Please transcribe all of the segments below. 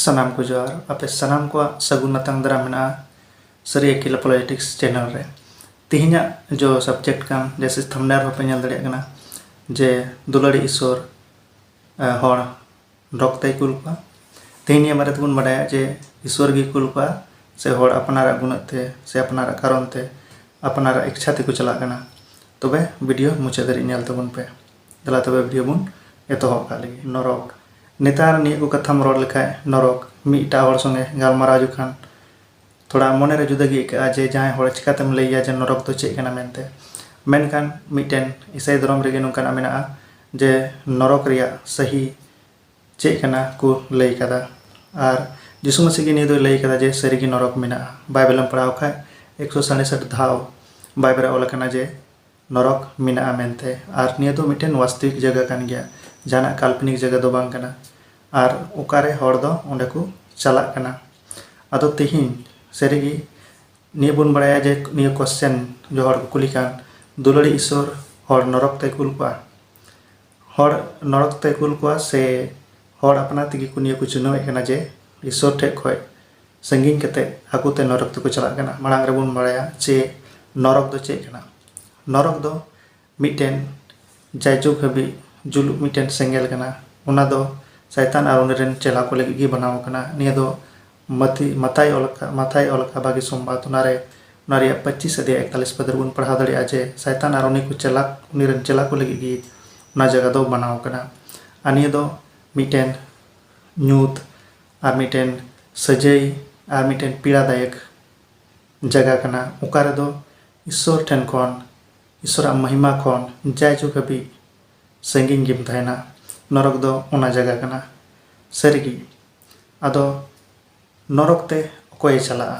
ᱥᱟᱱᱟᱢ ᱠᱚ ᱡᱚᱦᱟᱨ ᱟᱯᱮ ᱥᱟᱱᱟᱢ ᱠᱚᱣᱟᱜ ᱥᱟᱹᱜᱩᱱ ᱟᱛᱟᱝ ᱫᱟᱨᱟᱢ ᱢᱮᱱᱟᱜᱼᱟ ᱥᱟᱹᱨᱤ ᱟᱹᱠᱤᱞᱟ ᱯᱚᱞᱤᱴᱤᱠᱥ ᱪᱮᱱᱮᱞ ᱨᱮ ᱛᱮᱦᱮᱧᱟᱜ ᱡᱚ ᱥᱟᱵᱡᱮᱠᱴ ᱠᱟᱱ ᱡᱮᱥᱮ ᱛᱷᱟᱢᱱᱮᱞ ᱦᱚᱸᱯᱮ ᱧᱮᱞ ᱫᱟᱲᱮᱭᱟᱜ ᱠᱟᱱᱟ ᱡᱮ ᱫᱩᱞᱟᱹᱲᱤ ᱤᱥᱚᱨ ᱦᱚᱲ ᱰᱚᱜᱽ ᱛᱮᱭ ᱠᱩᱞ ᱠᱚᱣᱟ ᱛᱮᱦᱮᱧ ᱱᱤᱭᱟᱹ ᱵᱟᱨᱮ ᱛᱮᱵᱚᱱ ᱵᱟᱰᱟᱭᱟ ᱡᱮ ᱤᱥᱥᱚᱨ ᱜᱮᱭ ᱠᱩᱞ ᱠᱚᱣᱟ ᱥᱮ ᱦᱚᱲ ᱟᱯᱱᱟᱨᱟᱜ ᱜᱩᱱᱟᱹᱜ ᱛᱮ ᱥᱮ ᱟᱯᱱᱟᱨᱟᱜ ᱠᱟᱨᱚᱱ ᱛᱮ ᱟᱯᱱᱟᱨᱟᱜ ᱤᱪᱪᱷᱟ ᱛᱮᱠᱚ ᱪᱟᱞᱟᱜ ᱠᱟᱱᱟ ᱛᱚᱵᱮ ᱵᱷᱤᱰᱤᱭᱳ ᱢᱩᱪᱟᱹᱫ ᱫᱷᱟᱹᱨᱤᱡ ᱧᱮᱞ ᱛᱟᱵᱚᱱ ᱯᱮ ᱫᱮᱞᱟ ᱛᱚᱵᱮ ᱵᱷᱤᱰᱤᱭᱳ ᱵᱚᱱ ᱮᱛᱚᱦᱚᱵ ᱠᱟᱜ ᱞᱮᱜᱮ ᱱᱚᱨᱚᱠ ᱱᱮᱛᱟᱨ ᱱᱤᱭᱟᱹ ᱠᱚ ᱠᱟᱛᱷᱟᱢ ᱨᱚᱲ ᱞᱮᱠᱷᱟᱡ ᱱᱚᱨᱚᱠ ᱢᱤᱫᱴᱟᱜ ᱦᱚᱲ ᱥᱚᱸᱜᱮ ᱜᱟᱞᱢᱟᱨᱟᱣ ᱡᱚᱠᱷᱟᱱ ᱛᱷᱚᱲᱟ ᱢᱚᱱᱮ ᱨᱮ ᱡᱩᱫᱟᱹ ᱜᱮ ᱟᱹᱭᱠᱟᱹᱜᱼᱟ ᱡᱮ ᱡᱟᱦᱟᱸᱭ ᱦᱚᱲ ᱪᱤᱠᱟᱹ ᱛᱮᱢ ᱞᱟᱹᱭ ᱟᱭᱟ ᱡᱮ ᱱᱚᱨᱚᱠ ᱫᱚ ᱪᱮᱫ ᱠᱟᱱᱟ ᱢᱮᱱᱛᱮ ᱢᱮᱱᱠᱷᱟᱱ ᱢᱤᱫᱴᱮᱱ ᱤᱥᱟᱹᱭ ᱫᱷᱚᱨᱚᱢ ᱨᱮᱜᱮ ᱱᱚᱝᱠᱟᱱᱟᱜ ᱢᱮᱱᱟᱜᱼᱟ ᱡᱮ ᱱᱚᱨᱚᱠ ᱨᱮᱭᱟᱜ ᱥᱟᱹᱦᱤ ᱪᱮᱫ ᱠᱟᱱᱟ ᱠᱚ ᱞᱟᱹᱭ ᱟᱠᱟᱫᱟ ᱟᱨ ᱡᱤᱥᱩ ᱢᱟᱹᱥᱤ ᱜᱮ ᱱᱤᱭᱟᱹ ᱫᱚᱭ ᱞᱟᱹᱭ ᱟᱠᱟᱫᱟ ᱡᱮ ᱥᱟᱹᱨᱤ ᱜᱮ ᱱᱚᱨᱚᱠ ᱢᱮᱱᱟᱜᱼᱟ ᱵᱟᱭᱵᱮᱞ ᱮᱢ ᱯᱟᱲᱦᱟᱣ ᱠᱷᱟᱱ ᱮᱠᱥᱚ ᱥᱟᱲᱮ ᱥᱟᱴ ᱫᱷᱟᱣ ᱵᱟᱭᱵᱮᱞ ᱨᱮ ᱚᱞ ᱟᱠᱟᱱᱟ ᱡᱮ ᱱᱚᱨᱚᱠ ᱢᱮᱱᱟᱜᱼᱟ ᱢᱮᱱᱛᱮ ᱟᱨ ᱱᱤᱭᱟᱹ ᱫᱚ ᱢᱤᱫᱴᱮᱱ ᱣᱟᱥᱛᱚᱣᱤᱠ ᱡᱟᱭᱜᱟ ᱠᱟᱱ ᱜᱮᱭᱟ ᱡᱟᱦᱟᱱᱟᱜ ᱠᱟᱞᱯᱚᱱᱤᱠ ᱡᱟᱭᱜᱟ ᱫᱚ ᱵᱟᱝ ᱠᱟᱱᱟ ᱟᱨ ᱚᱠᱟᱨᱮ ᱦᱚᱲ ᱫᱚ ᱚᱸᱰᱮ ᱠᱚ ᱪᱟᱞᱟᱜ ᱠᱟᱱᱟ ᱟᱫᱚ ᱛᱮᱦᱮᱧ ᱥᱟᱹᱨᱤᱜᱮ ᱱᱤᱭᱟᱹ ᱵᱚᱱ ᱵᱟᱲᱟᱭᱟ ᱡᱮ ᱱᱤᱭᱟᱹ ᱠᱚᱥᱪᱮᱱ ᱡᱮ ᱦᱚᱲ ᱠᱚ ᱠᱩᱞᱤ ᱠᱟᱱ ᱫᱩᱞᱟᱹᱲᱤᱡ ᱤᱥᱥᱚᱨ ᱦᱚᱲ ᱱᱚᱨᱚᱠ ᱛᱮᱭ ᱠᱩᱞ ᱠᱚᱣᱟ ᱦᱚᱲ ᱱᱚᱨᱚᱠ ᱛᱮᱭ ᱠᱩᱞ ᱠᱚᱣᱟ ᱥᱮ ᱦᱚᱲ ᱟᱯᱱᱟᱨ ᱛᱮᱜᱮ ᱠᱚ ᱱᱤᱭᱟᱹ ᱠᱚ ᱪᱤᱱᱦᱟᱹᱣᱮᱫ ᱠᱟᱱᱟ ᱡᱮ ᱤᱥᱥᱚᱨ ᱴᱷᱮᱱ ᱠᱷᱚᱱ ᱥᱟᱺᱜᱤᱧ ᱠᱟᱛᱮ ᱦᱟᱹᱠᱩ ᱛᱮ ᱱᱚᱨᱚᱠ ᱛᱮᱠᱚ ᱪᱟᱞᱟᱜ ᱠᱟᱱᱟ ᱢᱟᱲᱟᱝ ᱨᱮᱵᱚᱱ ᱵᱟᱲᱟᱭᱟ ᱡᱮ ᱱᱚᱨᱚᱠ ᱫᱚ ᱪᱮᱫ ᱠᱟᱱᱟ ᱱᱚᱨᱚᱠ ᱫᱚ ᱢᱤᱫᱴᱮᱱ ᱡᱟᱭᱡᱩᱜᱽ ᱦᱟᱹᱵᱤᱡ ᱡᱩᱞᱩᱜ ᱢᱤᱫᱴᱮᱱ ᱥᱮᱸᱜᱮᱞ ᱠᱟᱱᱟ ᱚᱱᱟ ᱫᱚ ᱥᱟᱭᱛᱟᱱ ᱟᱨ ᱩᱱᱤ ᱨᱮᱱ ᱪᱮᱞᱟ ᱠᱚ ᱞᱟᱹᱜᱤᱫ ᱜᱮ ᱵᱮᱱᱟᱣ ᱟᱠᱟᱱᱟ ᱱᱤᱭᱟᱹ ᱫᱚ ᱢᱟᱛᱤ ᱢᱟᱛᱟᱭ ᱚᱞ ᱟᱠᱟᱫ ᱢᱟᱛᱷᱟᱭ ᱚᱞ ᱟᱠᱟᱫ ᱵᱷᱟᱜᱮ ᱥᱚᱢᱵᱟᱫ ᱚᱱᱟ ᱨᱮ ᱚᱱᱟ ᱨᱮᱭᱟᱜ ᱯᱚᱸᱪᱤᱥ ᱟᱫᱷᱭᱟᱭ ᱮᱠᱛᱟᱞᱤᱥ ᱯᱚᱫ ᱨᱮᱵᱚᱱ ᱯᱟᱲᱦᱟᱣ ᱫᱟᱲᱮᱭᱟᱜᱼᱟ ᱡᱮ ᱥᱟᱭᱛᱟᱱ ᱟᱨ ᱩᱱᱤ ᱠᱚ ᱪᱮᱞᱟ ᱩᱱᱤ ᱨᱮᱱ ᱪᱮᱞᱟ ᱠᱚ ᱞᱟᱹᱜᱤᱫ ᱜᱮ ᱚᱱᱟ ᱡᱟᱭᱜᱟ ᱫᱚ ᱵᱮᱱᱟᱣ ᱟᱠᱟᱱᱟ ᱟᱨ ᱱᱤᱭᱟᱹ ᱫᱚ ᱢᱤᱫᱴᱮᱱ ᱧᱩᱛ ᱟᱨ ᱢᱤᱫᱴᱮᱱ ᱥᱟᱹᱡᱟᱹᱭ ᱟᱨ ᱢᱤᱫᱴᱮᱱ ᱯᱤᱲᱟ ᱫᱟᱭᱮᱠ ᱡᱟᱭᱜᱟ ᱠᱟᱱᱟ ᱚᱠᱟ ᱨᱮᱫᱚ ᱤᱥᱥᱚᱨ ᱴᱷᱮᱱ ᱠᱷᱚᱱ ᱤᱥᱥᱚᱨᱟᱜ ᱢᱟᱦᱤᱢᱟ ᱠᱷᱚᱱ ᱡᱟᱭ ᱡᱩᱜᱽ ᱦᱟᱹᱵᱤᱡ ᱥᱟᱺᱜᱤᱧ ᱜᱮᱢ ᱛᱟᱦᱮᱱᱟ ᱱᱚᱨᱚᱠ ᱫᱚ ᱚᱱᱟ ᱡᱟᱭᱜᱟ ᱠᱟᱱᱟ ᱥᱟᱹᱨᱤᱜᱮ ᱟᱫᱚ ᱱᱚᱨᱚᱠ ᱛᱮ ᱚᱠᱚᱭᱮ ᱪᱟᱞᱟᱜᱼᱟ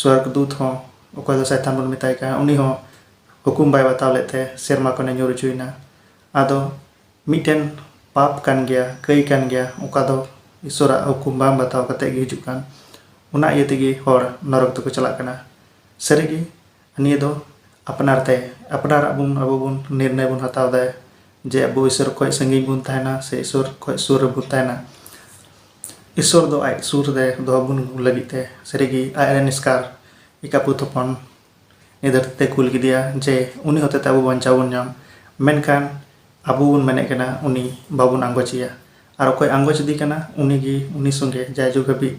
ᱥᱚᱨᱜᱽ ᱫᱩᱛ ᱦᱚᱸ ᱚᱠᱚᱭ ᱫᱚ ᱥᱟᱭᱛᱟᱱ ᱵᱚᱱ ᱢᱮᱛᱟᱭ ᱠᱟᱱᱟ ᱩᱱᱤ ᱦᱚᱸ ᱦᱩᱠᱩᱢ ᱵᱟᱭ ᱵᱟᱛᱟᱣ ᱞᱮᱫ ᱛᱮ ᱥᱮᱨᱢᱟ ᱠᱷᱚᱱᱮ ᱧᱩᱨ ᱚᱪᱚᱭᱮᱱᱟ ᱟᱫᱚ ᱢᱤᱫᱴᱮᱱ ᱯᱟᱯ ᱠᱟᱱ ᱜᱮᱭᱟ ᱠᱟᱹᱭ ᱠᱟᱱ ᱜᱮᱭᱟ ᱚᱠᱟ ᱫᱚ ᱤᱥᱚᱨᱟᱜ ᱦᱩᱠᱩᱢ ᱵᱟᱝ ᱵᱟᱛᱟᱣ ᱠᱟᱛᱮ ᱜᱮ ᱦᱤᱡᱩᱜ ᱠᱟᱱ ᱚᱱᱟ ᱤᱭᱟᱹ ᱛᱮᱜᱮ ᱦᱚᱲ ᱱᱚᱨᱚᱠ ᱛᱮᱠᱚ ᱪᱟᱞᱟᱜ ᱠᱟᱱᱟ ᱥᱟᱹᱨᱤᱜᱮ ᱱᱤᱭᱟᱹ ᱫᱚ ᱟᱯᱱᱟᱨ ᱛᱮ ᱟᱯᱱᱟᱨᱟᱜ ᱵᱚᱱ ᱟᱵᱚ ᱵᱚᱱ ᱱᱤᱨᱱᱚᱭ ᱵᱚᱱ ᱦᱟᱛᱟᱣ ᱮᱫᱟ ᱡᱮ ᱟᱵᱚ ᱤᱥᱚᱨ ᱠᱷᱚᱡ ᱥᱟᱺᱜᱤᱧ ᱵᱚᱱ ᱛᱟᱦᱮᱱᱟ ᱥᱮ ᱤᱥᱚᱨ ᱠᱷᱚᱡ ᱥᱩᱨ ᱨᱮᱵᱚᱱ ᱛᱟᱦᱮᱱᱟ ᱤᱥᱚᱨ ᱫᱚ ᱟᱡ ᱥᱩᱨ ᱨᱮ ᱫᱚᱦᱚ ᱵᱚᱱ ᱞᱟᱹᱜᱤᱫ ᱛᱮ ᱥᱟᱹᱨᱤ ᱜᱮ ᱟᱡ ᱨᱮᱱ ᱮᱥᱠᱟᱨ ᱮᱠᱟᱵᱩᱛ ᱦᱚᱯᱚᱱ ᱱᱤᱭᱟᱹ ᱫᱷᱟᱹᱨᱛᱤ ᱛᱮᱭ ᱠᱩᱞ ᱠᱮᱫᱮᱭᱟ ᱡᱮ ᱩᱱᱤ ᱦᱚᱛᱮ ᱛᱮ ᱟᱵᱚ ᱵᱟᱧᱪᱟᱣ ᱵᱚᱱ ᱧᱟᱢ ᱢᱮᱱᱠᱷᱟᱱ ᱟᱵᱚ ᱵᱚᱱ ᱢᱮᱱᱮᱫ ᱠᱟᱱᱟ ᱩᱱᱤ ᱵᱟᱵᱚᱱ ᱟᱸᱜᱚᱪᱮᱭᱟ ᱟᱨ ᱚᱠᱚᱭ ᱟᱸᱜᱚᱪᱮᱫᱮ ᱠᱟᱱᱟ ᱩᱱᱤ ᱜᱮ ᱩᱱᱤ ᱥᱚᱸᱜᱮ ᱡᱟᱭ ᱡᱩᱜᱽ ᱦᱟᱹᱵᱤᱡ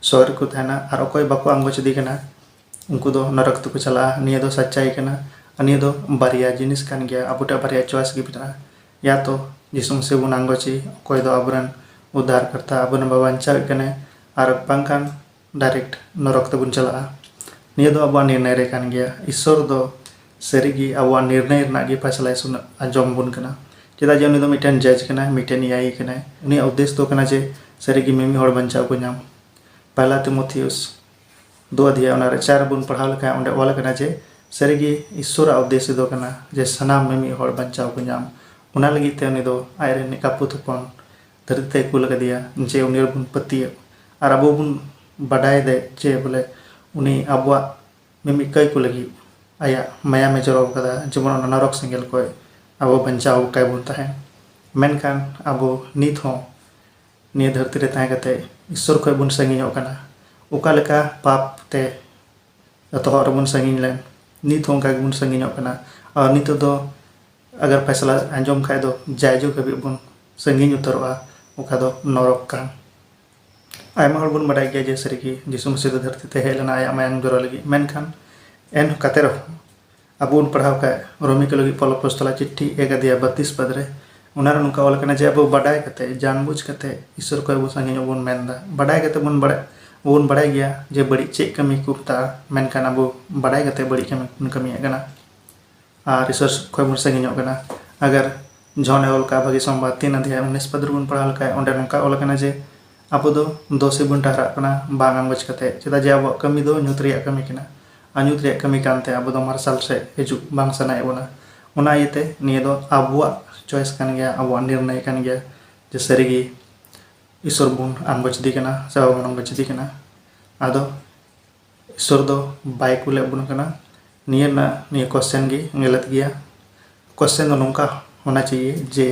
ᱥᱚᱦᱚᱫ ᱨᱮᱠᱚ ᱛᱟᱦᱮᱱᱟ ᱟᱨ ᱚᱠᱚᱭ ᱵᱟᱠᱚ ᱟᱸᱜᱚᱪᱮᱫᱮ ᱠᱟᱱᱟ ᱩᱱᱠᱩ ᱫᱚ ᱱᱚᱨᱚᱠ ᱛᱮᱠᱚ ᱪᱟᱞᱟᱜᱼᱟ ᱱᱤᱭᱟᱹ ᱫᱚ ᱥᱟᱪᱪᱟᱭ ᱠᱟᱱᱟ ᱟᱨ ᱱᱤᱭᱟᱹ ᱫᱚ ᱵᱟᱨᱭᱟ ᱡᱤᱱᱤᱥ ᱠᱟᱱ ᱜᱮᱭᱟ ᱟᱵᱚ ᱴᱷᱮᱱ ᱵᱟᱨᱭᱟ ᱪᱚᱭᱮᱥ ᱜᱮ ᱢᱮᱱᱟᱜᱼᱟ ᱭᱟ ᱛᱚ ᱡᱤᱥᱩ ᱢᱟᱥᱤ ᱵᱚᱱ ᱟᱸᱜᱚᱪᱮ ᱚᱠᱚᱭ ᱫᱚ ᱟᱵᱚ ᱨᱮᱱ ᱩᱫᱽᱫᱷᱟᱨ ᱠᱚᱨᱛᱟ ᱟᱵᱚ ᱨᱮᱱ ᱵᱟᱧᱪᱟᱣᱤᱡ ᱠᱟᱱᱟᱭ ᱟᱨ ᱵᱟᱝᱠᱷᱟᱱ ᱰᱟᱭᱨᱮᱠᱴ ᱱᱚᱨᱚᱠ ᱛᱮᱵᱚᱱ ᱪᱟᱞᱟᱜᱼᱟ ᱱᱤᱭᱟᱹ ᱫᱚ ᱟᱵᱚᱣᱟᱜ ᱱᱤᱨᱱᱚᱭ ᱨᱮ ᱠᱟᱱ ᱜᱮᱭᱟ ᱤᱥᱥᱚᱨ ᱫᱚ ᱥᱟᱹᱨᱤᱜᱮ ᱟᱵᱚᱣᱟᱜ ᱱᱤᱨᱱᱚᱭ ᱨᱮᱱᱟᱜ ᱜᱮ ᱯᱷᱟᱭᱥᱟᱞᱟᱭ ᱥᱩᱱ ᱟᱸᱡᱚᱢ ᱵᱚᱱ ᱠᱟᱱᱟ ᱪᱮᱫᱟᱜ ᱡᱮ ᱩᱱᱤ ᱫᱚ ᱢᱤᱫᱴᱮᱱ ᱡᱟᱡᱽ ᱠᱟᱱᱟᱭ ᱢᱤᱫᱴᱮᱱ ᱱᱤᱭᱟᱭᱤ ᱠᱟᱱᱟᱭ ᱩᱱᱤᱭᱟᱜ ᱩᱫᱽᱫᱮᱥ ᱫᱚ ᱠᱟᱱᱟ ᱡᱮ ᱥᱟᱹᱨᱤᱜᱮ ᱢᱤᱢᱤᱫ ᱦᱚᱲ ᱵᱟᱧᱪᱟᱣ ᱠᱚ ᱧᱟᱢ ᱯᱟᱭᱞᱟ ᱛᱤᱢᱳᱛᱷᱤᱭᱩᱥ ᱫᱚ ᱟᱫᱷᱤᱭᱟ ᱚᱱᱟ ᱨᱮ ᱪᱟᱨ ᱵᱚᱱ ᱯᱟᱲᱦᱟᱣ ᱞᱮᱠᱷᱟᱱ ᱚᱸᱰᱮ ᱚᱞ ᱟᱠᱟᱱᱟ ᱡᱮ ᱥᱟᱹᱨᱤ ᱜᱮ ᱤᱥᱥᱚᱨᱟᱜ ᱩᱫᱽᱫᱮᱥᱥᱚ ᱫᱚ ᱠᱟᱱᱟ ᱡᱮ ᱥᱟᱱᱟᱢ ᱢᱤᱢᱤᱫ ᱦᱚᱲ ᱵᱟᱧᱪᱟᱣ ᱠᱚ ᱧᱟᱢ ᱚᱱᱟ ᱞᱟᱹᱜᱤᱫ ᱛᱮ ᱩᱱᱤ ᱫᱚ ᱟᱡ ᱨᱮᱱ ᱮᱠᱟᱯᱩᱛ ᱦᱚᱯᱚᱱ ᱫᱷᱟᱹᱨᱛᱤ ᱛᱮᱭ ᱠᱩᱞ ᱟᱠᱟᱫᱮᱭᱟ ᱡᱮ ᱩᱱᱤ ᱨᱮᱵᱚᱱ ᱯᱟᱹᱛᱭᱟᱹᱜ ᱟᱨ ᱟᱵᱚ ᱵᱚᱱ ᱵᱟᱰᱟᱭ ᱫᱮ ᱡᱮ ᱵᱚᱞᱮ ᱩᱱᱤ ᱟᱵᱚᱣᱟᱜ ᱢᱤᱢᱤᱫ ᱠᱟᱹᱭ ᱠᱚ ᱞᱟᱹᱜᱤᱫ ᱟᱭᱟᱜ ᱢᱟᱭᱟᱢᱮ ᱡᱚᱨᱚ ᱟᱠᱟᱫᱟ ᱡᱮᱢᱚᱱ ᱚᱱᱟ ᱱᱚᱨᱚᱠ ᱥᱮᱸᱜᱮᱞ ᱠᱷᱚᱱ ᱟᱵᱚ ᱵᱟᱧᱪᱟᱣ ᱠᱟᱭ ᱵᱚᱱ ᱛᱟᱦᱮᱱ ᱢᱮᱱᱠᱷᱟᱱ ᱟᱵᱚ ᱱᱤᱛ ᱦᱚᱸ ᱱᱤᱭᱟᱹ ᱫᱷᱟᱹᱨᱛᱤ ᱨᱮ ᱛᱟᱦᱮᱸ ᱠᱟᱛᱮ ᱤᱥᱥᱚᱨ ᱠᱷᱚᱱ ᱵᱚᱱ ᱥᱟᱺᱜᱤᱧᱚᱜ ᱠᱟᱱᱟ ᱚᱠᱟ ᱞᱮᱠᱟ ᱯᱟᱯ ᱛᱮ ᱮᱛᱚᱦᱚᱵ ᱨᱮᱵᱚᱱ ᱥᱟᱺᱜᱤᱧ ᱞᱮᱱ ᱱᱤᱛ ᱦᱚᱸ ᱚᱱᱠᱟ ᱜᱮᱵᱚᱱ ᱥᱟᱺᱜᱤᱧᱚᱜ ᱠᱟᱱᱟ ᱟᱨ ᱱᱤᱛᱚᱜ ᱫᱚ ᱟᱜᱟᱨ ᱯᱷᱟᱭᱥᱟᱞᱟ ᱟᱸᱡᱚᱢ ᱠᱷᱟᱱ ᱫᱚ ᱡᱟᱭ ᱡᱩᱜᱽ ᱦᱟᱹᱵᱤᱡ ᱵᱚᱱ ᱥᱟᱺᱜᱤᱧ ᱩᱛᱟᱹᱨᱚᱜᱼᱟ ᱚᱠᱟ ᱫᱚ ᱱᱚᱨᱚᱠ ᱠᱟᱱ ᱟᱭᱢᱟ ᱦᱚᱲ ᱵᱚᱱ ᱵᱟᱰᱟᱭ ᱜᱮᱭᱟ ᱡᱮ ᱥᱟᱹᱨᱤ ᱜᱮ ᱡᱤᱥᱩ ᱢᱟᱹᱥᱤ ᱫᱚ ᱫᱷᱟᱹᱨᱛᱤ ᱛᱮ ᱦᱮᱡ ᱞᱮᱱᱟᱭ ᱟᱭᱟᱜ ᱢᱟᱭᱟᱝ ᱡᱚᱨᱚ ᱞᱟᱹᱜᱤᱫ ᱢᱮᱱᱠᱷᱟᱱ ᱮᱱ ᱠᱟᱛᱮ ᱨᱮᱦᱚᱸ ᱟᱵᱚ ᱵᱚᱱ ᱯᱟᱲᱦᱟᱣ ᱠᱷᱟᱡ ᱨᱚᱢᱤ ᱠᱚ ᱞᱟᱹᱜᱤᱫ ᱯᱚᱞᱚ ᱯᱚᱥᱛᱚᱞᱟ ᱪᱤᱴᱷᱤ ᱮᱠ ᱟᱫᱷᱭᱟᱭ ᱵᱟᱛᱤᱥ ᱯᱟᱫ ᱨᱮ ᱚᱱᱟᱨᱮ ᱱᱚᱝᱠᱟ ᱚᱞ ᱠᱟᱱᱟ ᱡᱮ ᱟᱵᱚ ᱵᱟᱰᱟᱭ ᱠᱟᱛᱮ ᱡᱟᱱᱵᱩᱡ ᱠᱟᱛᱮ ᱤᱥᱚᱨ ᱠᱷᱚᱡ ᱟᱵᱚ ᱥᱟᱺᱜᱤᱧᱚᱜ ᱵᱚᱱ ᱢᱮᱱ ᱮᱫᱟ ᱵᱟᱰᱟᱭ ᱠᱟᱛᱮ ᱵᱚᱱ ᱵᱟᱲᱟᱭ ᱵᱚᱱ ᱵᱟᱲᱟᱭ ᱜᱮᱭᱟ ᱡᱮ ᱵᱟᱹᱲᱤᱡ ᱪᱮᱫ ᱠᱟᱹᱢᱤ ᱠᱚ ᱢᱮᱛᱟᱜᱼᱟ ᱢᱮᱱᱠᱷᱟᱱ ᱟᱵᱚ ᱵᱟᱰᱟᱭ ᱠᱟᱛᱮ ᱵᱟᱹᱲᱤᱡ ᱠᱟᱹᱢᱤ ᱵᱚᱱ ᱠᱟᱹᱢᱤᱭᱮᱫ ᱠᱟᱱᱟ ᱟᱨ ᱤᱥᱚᱨ ᱠᱷᱚᱡ ᱵᱚᱱ ᱥᱟᱺᱜᱤᱧᱚᱜ ᱠᱟᱱᱟ ᱟᱜᱟᱨ ᱡᱚᱱ ᱮ ᱚᱞ ᱠᱟᱜᱼᱟ ᱵᱷᱟᱹᱜᱤ ᱥᱚᱢᱵᱟᱫ ᱛᱤᱱ ᱟᱫᱷᱭᱟᱭ ᱩᱱᱤᱥ ᱯᱟᱫ ᱨᱮᱵᱚᱱ ᱯᱟᱲᱦᱟᱣ ᱞᱮᱠᱷᱟᱡ ᱚᱸᱰᱮ ᱱᱚᱝᱠᱟ ᱚᱞ ᱠᱟᱱᱟ ᱡᱮ ᱟᱵᱚ ᱫᱚ ᱫᱚ ᱥᱮᱫ ᱵᱚᱱ ᱴᱟᱦᱨᱟᱜ ᱠᱟᱱᱟ ᱵᱟᱝ ᱟᱸᱜᱚᱪ ᱠᱟᱛᱮ ᱪᱮᱫᱟᱜ ᱡᱮ ᱟᱵᱚᱣᱟᱜ ᱠᱟᱹᱢᱤ ᱫᱚ ᱧᱩᱛ ᱨᱮᱭᱟᱜ ᱠᱟᱹᱢᱤ ᱠᱟᱱᱟ ᱟᱨ ᱧᱩᱛ ᱨᱮᱭᱟᱜ ᱠᱟᱹᱢᱤ ᱠᱟᱱ ᱛᱮ ᱟᱵᱚ ᱫᱚ ᱢᱟᱨᱥᱟᱞ ᱥᱮᱫ ᱦᱤᱡᱩᱜ ᱵᱟᱝ ᱥᱟᱱᱟᱭᱮᱫ ᱵᱚᱱᱟ ᱚᱱᱟ ᱤᱭᱟᱹ ᱛᱮ ᱱᱤᱭᱟᱹ ᱫᱚ ᱟᱵᱚᱣᱟᱜ ᱪᱚᱭᱮᱥ ᱠᱟᱱ ᱜᱮᱭᱟ ᱟᱵᱚᱣᱟᱜ ᱱᱤᱨᱱᱚᱭ ᱠᱟᱱ ᱜᱮᱭᱟ ᱡᱮ ᱥᱟᱹᱨᱤ ᱜᱮ ᱤᱥᱥᱚᱨ ᱵᱚᱱ ᱟᱸᱜᱚᱪ ᱮᱫᱮ ᱠᱟᱱᱟ ᱥᱮ ᱵᱟᱵᱚᱱ ᱟᱸᱜᱚᱪ ᱮᱫᱮ ᱠᱟᱱᱟ ᱟᱫᱚ ᱤᱥᱥᱚᱨ ᱫᱚ ᱵᱟᱭ ᱠᱩᱞᱮᱫ ᱵᱚᱱ ᱠᱟᱱᱟ ᱱᱤᱭᱟᱹ ᱨᱮᱱᱟᱜ ᱱᱤᱭᱟᱹ ᱠᱚᱥᱪᱮᱱ ᱜᱮ ᱜᱟᱞᱟᱛ ᱜᱮᱭᱟ ᱠᱚᱥᱪᱮᱱ ᱫᱚ ᱱᱚᱝᱠᱟ ᱦᱳᱱᱟ ᱪᱟᱦᱤᱭᱮ ᱡᱮ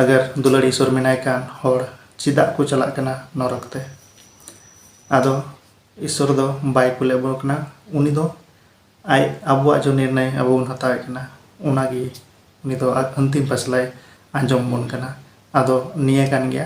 ᱟᱜᱟᱨ ᱫᱩᱞᱟᱹᱲᱤ ᱤᱥᱥᱚᱨ ᱢᱮᱱᱟᱭ ᱠᱷᱟᱱ ᱦᱚᱲ ᱪᱮᱫᱟᱜ ᱠᱚ ᱪᱟᱞᱟᱜ ᱠᱟᱱᱟ ᱱᱚᱨᱚᱠ ᱛᱮ ᱟᱫᱚ ᱤᱥᱥᱚᱨ ᱫᱚ ᱵᱟᱭ ᱠᱩᱞᱮᱫ ᱵᱚᱱ ᱠᱟᱱᱟ ᱩᱱᱤ ᱫᱚ ᱟᱡ ᱟᱵᱚᱣᱟᱜ ᱡᱮ ᱱᱤᱨᱱᱚᱭ ᱟᱵᱚ ᱵᱚᱱ ᱦᱟᱛᱟᱣᱮᱫ ᱠᱟᱱᱟ ᱚᱱᱟᱜᱮ ᱩᱱᱤ ᱫᱚ ᱟᱡ ᱟᱱᱛᱤᱢ ᱯᱷᱟᱭᱥᱟᱞᱟᱭ ᱟᱸᱡᱚᱢ ᱟᱵᱚᱱ ᱠᱟᱱᱟ ᱟᱫᱚ ᱱᱤᱭᱟᱹ ᱠᱟᱱ ᱜᱮᱭᱟ